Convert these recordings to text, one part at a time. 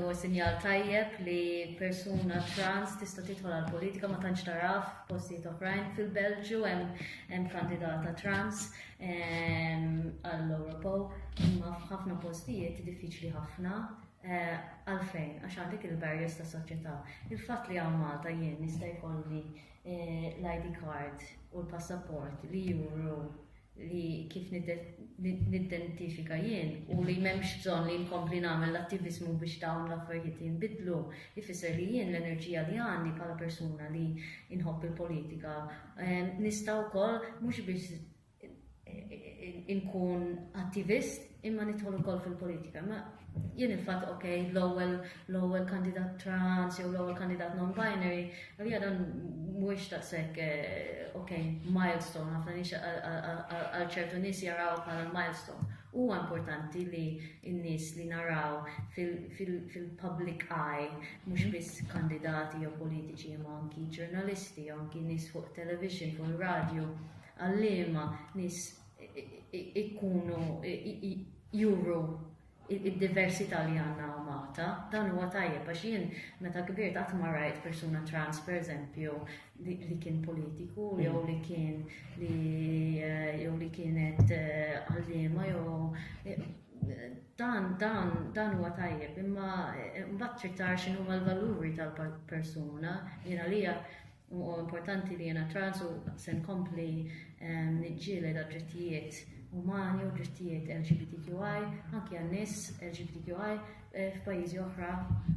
huwa sinjal tajjeb li persuna trans tista' tidħol għal politika ma tantx taraf postijiet oħrajn fil-Belġju hemm kandidata trans għall-Ewropew imma f'ħafna postijiet diffiċli ħafna eh, għalfejn għax għandek il-barriers ta' soċjetà. Il-fatt li hawn Malta jien nista' jkolli eh, l-ID card u l-passaport li juru li kif niddentifika jien u li m'hemmx bżonn li nkompli nagħmel l-attiviżmu biex dawn l-affarijiet jinbidlu, ifisser li jien l-enerġija li għandi bħala persuna li nħobb il-politika ehm, nista' wkoll mhux biex inkun attivist, imma nidħol ukoll fil-politika. Ma jien il-fatt ok, l-ewwel l-ewwel kandidat trans jew l-ewwel kandidat non-binary, għalija dan mhuwiex taqsek eh, ok, milestone ħafna nix għal ċertu nies jaraw bħala milestone. Huwa importanti li n-nies li naraw fil-public eye mhux biss kandidati jew politiċi imma anki ġurnalisti, anki nies fuq television, fuq radio, għallima, nies ikkunu juru id-diversità li għandna Malta, dan huwa tajjeb għax jien meta kbirt qatt ma rajt persuna trans pereżempju li kien politiku mm. jew li kien li eh, jew li kienet eh, għalliema jew eh, dan dan dan huwa tajjeb imma mbagħad trid tara x'inhuma l-valuri tal-persuna jiena lija Huwa importanti li jiena trans u se nkompli niġġieled għad-drittijiet umani u drittijiet LGBTQI anki għan-nies LGBTQI eh, f'pajjiżi oħra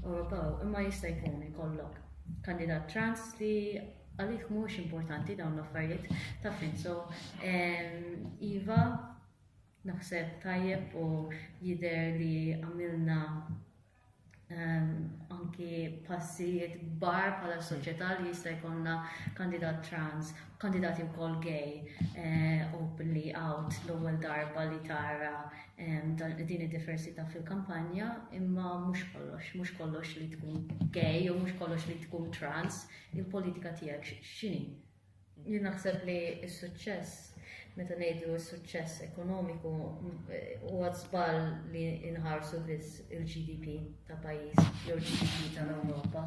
Ewropew. Imma jista' jkun ikollok kandidat trans li għalih mhux importanti dawn l-affarijiet ta' finso. Iva, naħseb tajjeb u jider li għamilna anki passijiet bar bħala hmm. soċjetà li jista' jkollna kandidat trans, kandidati wkoll gay, eh, openly out l-ewwel darba li tara din id-diversità fil-kampanja, imma mhux kollox, mhux kollox li tkun gay jew mhux kollox li tkun trans, il-politika tiegħek x'inhi? Jien naħseb li s-suċċess, meta ngħidu s-suċċess ekonomiku, huwa żball li nħarsu biss il-GDP ta' pajjiż jew il-GDP tal-Ewropa.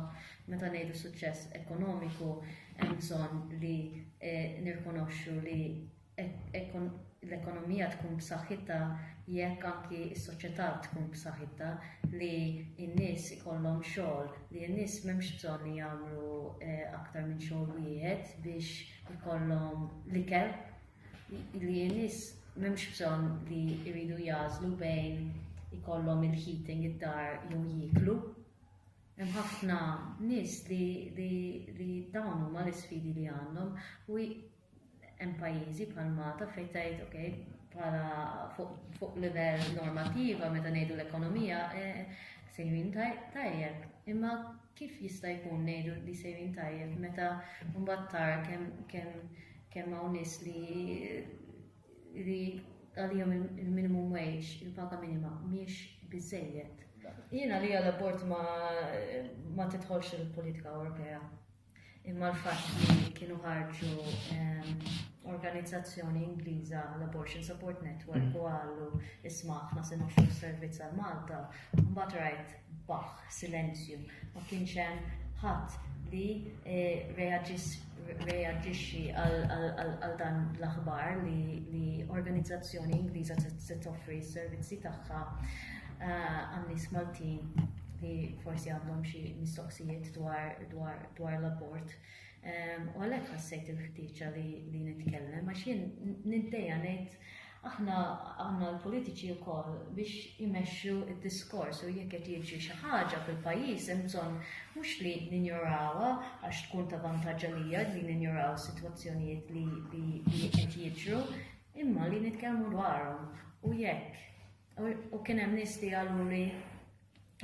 Meta ngħidu suċċess ekonomiku, hemm bżonn li eh, nirkonoxxu li l-ekonomija tkun b'saħħitha jekk anki s-soċjetà tkun b'saħħitha, li n-nies ikollhom xogħol, li n-nies m'hemmx bżonn li jagħmlu aktar minn xogħol wieħed biex ikollhom l-ikel, li n-nies m'hemmx bżonn li jridu jagħżlu bejn ikollhom il-heating id-dar jew jieklu. Hemm ħafna nies li dawn huma l-isfidi li għandhom u Hemm pajjiżi bħal Malta fejn tgħid ok, bħala fuq livell normattiva meta ngħidu l-ekonomija sejrin tajjeb, imma kif jista' jkun ngħidu li sejrin tajjeb meta mbagħad tara kemm hawn nies li għalihom il-minimum wage, il-paga minima mhix biżżejjed. Jien għalija l-abort ma tidħolx il-politika Ewropea. Imma l-fatt li kienu ħarġu organizzazzjoni Ingliża l-Abortion Support Network u għallu isma' aħna se noffru servizz għal Malta, mbagħad rajt baħ, silenzju, ma kienx hemm ħadd li eh, reaġixxi għal dan l-aħbar li organizzazzjoni Ingliża se toffri s-servizzi tagħha eh, għan-nies Maltin li forsi għandhom xi mistoqsijiet dwar dwar l-abort. Ehm, u għalhekk ħassejt il-ħtieġa li nitkellem għax jien nintejja ngħid aħna għandna l-politiċi wkoll biex imexxu d-diskors u jekk qed jiġri xi ħaġa fil-pajjiż hemm bżonn mhux li ninjorawha għax tkun ta' vantaġġ għalija li ninjoraw sitwazzjonijiet li qed jiġru imma li nitkellmu dwarhom u jekk u kien hemm nies li qalu li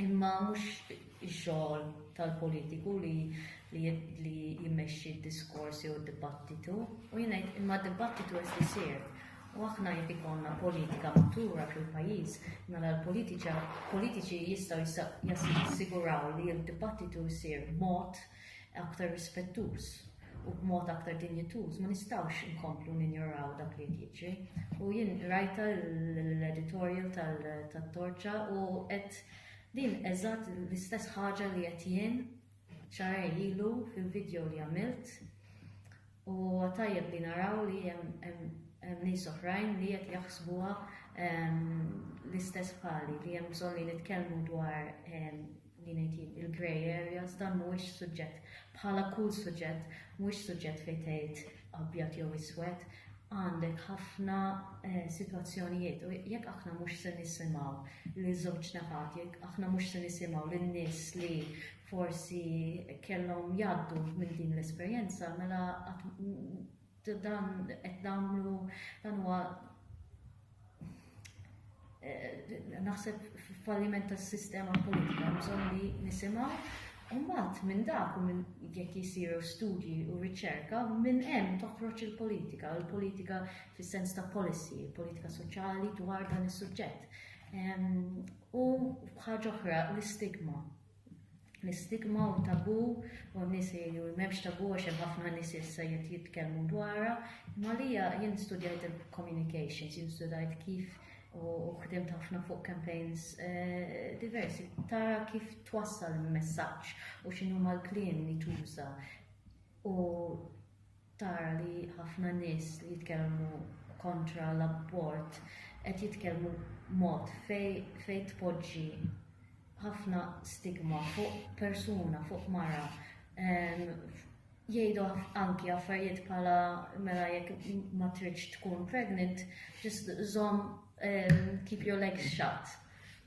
Imma mhux ix-xogħol tal-politiku li li jimmexxi d-diskors jew d-dibattitu u jien ngħid imma d-dibattitu qed isir. U aħna jekk ikollna politika matura fil-pajjiż, mela l-politiċi jistgħu jassiguraw li d-dibattitu jsir b'mod aktar rispettuż u b'mod aktar dinjituż ma nistgħux inkomplu ninjoraw dak li qed jiġri. U jien rajta l-editorial tat-torċa u qed din eżatt l-istess ħaġa li qed jien xarej ilu fil-video li għamilt U huwa tajjeb li naraw li hemm nies oħrajn li qed jaħsbuha l-istess bħali, li hemm bżonn li nitkellmu dwar li ngħid jien il-grey areas, dan mhuwiex suġġett bħala kull suġġett, mhuwiex suġġett fejn tgħid abjad jew iswed, għandek ħafna eh, sitwazzjonijiet u jekk aħna mhux se nisimgħu li żewġ naħat, jekk aħna mhux se nisimgħu lin-nies li forsi kellhom jgħaddu minn din l-esperjenza, mela dan qed nagħmlu dan huwa eh, naħseb falliment tas-sistema politika bżonn li nisimgħu Umbat minn dak u minn jekk jisiru studji u riċerka, minn hemm toħroġ il-politika, il-politika fis-sens ta' policy, il-politika soċjali dwar dan is-suġġett. U ħaġa oħra l-istigma l-istigma u tabù u n-nies jgħidu li m'hemmx tabù għax hemm ħafna nies issa jrid jitkellmu dwarha. Imma lija jien studjajt il-communications, jien studajt kif u ħdimt ħafna fuq campaigns eh, diversi. Tara kif twassal il-messaġġ u x'inhu mal-kliem li tuża. U tara li ħafna nies li jitkellmu kontra l-abort qed jitkellmu b'mod fejn tpoġġi ħafna stigma fuq persuna, fuq mara. Jgħidu anki affarijiet bħala mela jekk ma tridx tkun pregnant, just żomm keep your legs shut.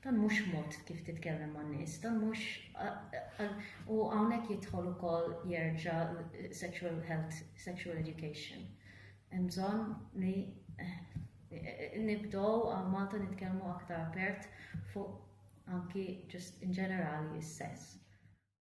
Dan mhux mod kif titkellem man nies, dan mhux u hawnhekk jidħol ukoll jerġa' sexual health, sexual education. Hemm bżonn li eh, nibdow għal Malta nitkellmu aktar apert fuq anki ġust in ġenerali s-sess.